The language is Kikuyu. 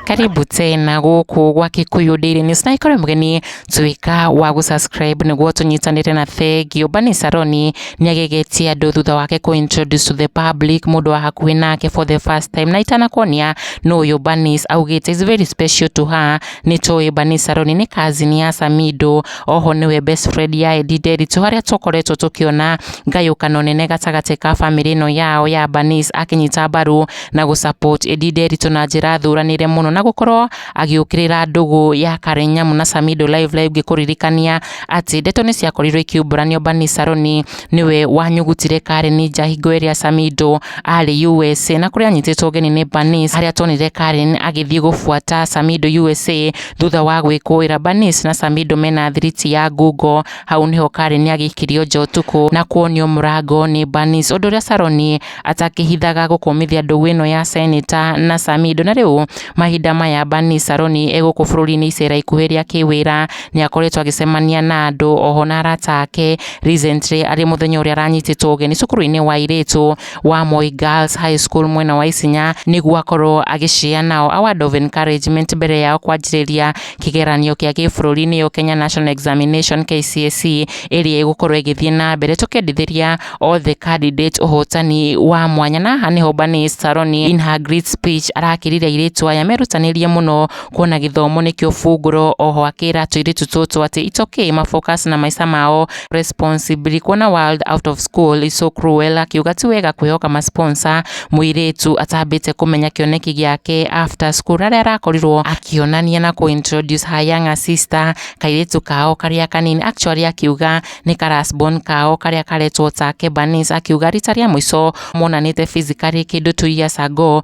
karibu tena gũkũ gwa Kikuyu Daily News na ikorwo mgeni tuika wa gũsubscribe nĩguo tũnyitanĩre na thengio Bani Saroni nĩagegetie andũ thutha wake kũ introduce to the public mũndũ wa hakuhĩ nake for the first time na itanakuonia nũ ũyũ Banis augĩte is very special to her nĩ tũĩ Bani Saroni nĩ cousin ya Samido Oho nĩwe best friend ya Edi Nderitu harĩa tũkoretwo tũkĩona ngayũkano nene gatagatĩ ka bamĩrĩ ĩno yao ya Banis akĩnyita mbaru na gũ support Edi Nderitu na njĩra thuranĩre mũno na gũkorwo agĩũkĩrĩra ndũgũ ya Karen Nyamu na Samido Live Live ngĩkũririkania atĩ ndeto nĩ ciakorirwo ikiumburanio Banis Saroni nĩwe wanyugutire Karen nja hingo ĩrĩa Samido arĩ USA na kũrĩa anyitĩtwo ũgeni nĩ Banis harĩa tuonire Karen agĩthiĩ gũbuata Samido USA Thutha wa gwĩkũĩra Bernice na Samido mena thiriti ya ngungo, hau nĩho Karen agĩkirio nja ũtukũ na kuonio mũrango nĩ Bernice, ũndũ ũrĩa Sharon atakĩhithaga gũkũmithia ndũgũ ĩno ya Senator na Samido. Na rĩu mahinda maya Bernice Sharon e gũkũ bũrũri-inĩ icera ikuhĩ rĩa kĩwĩra, nĩ akoretwo agĩcemania na andũ oho na arata ake, recently arĩ mũthenya ũrĩa aranyitĩtwo ũgeni cukuru-inĩ wa airĩtu, wa Moi Girls High School mwena wa Isinya nĩguo akorwo agĩcea nao award of encouragement mbere yao kwanjĩrĩria kĩgeranio kĩa gĩbũrũri nĩyo Kenya National Examination KCSE ĩrĩa ĩgũkorwo ĩgĩthiĩ na mbere tũkendithĩria othe candidate ũhotani wa mwanya na haha nĩho Bani Saroni in her great speech arakĩrire airĩtu aya merutanĩrie mũno kuona gĩthomo nĩkĩo bungũro oho akĩra tũirĩtu tũtũ atĩ it's okay ma focus na maica mao Response, Billy kuona world out of school is so cruel akiuga ti wega kwĩhoka ma sponsor mũirĩtu atambĩte kũmenya kĩoneki gĩake after school arĩa arakorirwo akĩonania na kũ introduce her younger sister kairĩtu kao karĩa kanini actually akiuga nĩ ka last born kao karĩa karetwo take Bernice akiuga rita rĩa mũico monanĩte physically kĩndũ two years ago